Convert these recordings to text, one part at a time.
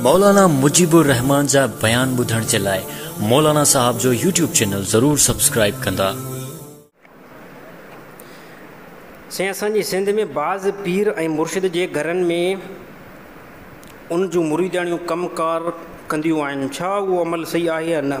مولانا مجيب الرحمان جا بيان ٻڌڻ جي لاء مولانا صاحب جو يوٽيوب چينل ضرور سبسڪرائيب ڪندا. سائين اسان جي سنڌ ۾ بعض پير ۽ مرشد جي گهرن ۾ ان جون مريداڻيون ڪم ڪار ڪنديون آهن ڇا اهو عمل صحيح آهي يا نه؟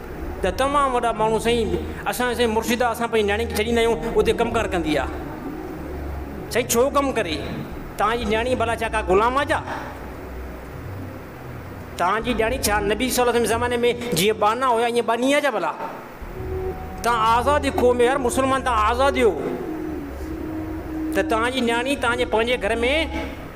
ته تمام وڏا ماڻهو سائين اسان سائين مرشد آ اسان پنهنجي نياڻي کي ڇڏيندا آهيون اتي ڪم ڪار ڪندي آ سائين ڇو ڪم ڪري توهان جي نياڻي ڀلا ڇا ڪا غلام آ ڇا توهان جي نياڻي ڇا نبي صلي الله عليه وسلم زماني ۾ جيئن ٻانها هيا ائين ٻانهي آ ڇا ڀلا توهان آزاد جي کوهه ۾ هر مسلمان توهان آزاد هيو ته توهان جي نياڻي توهان جي پنهنجي گهر ۾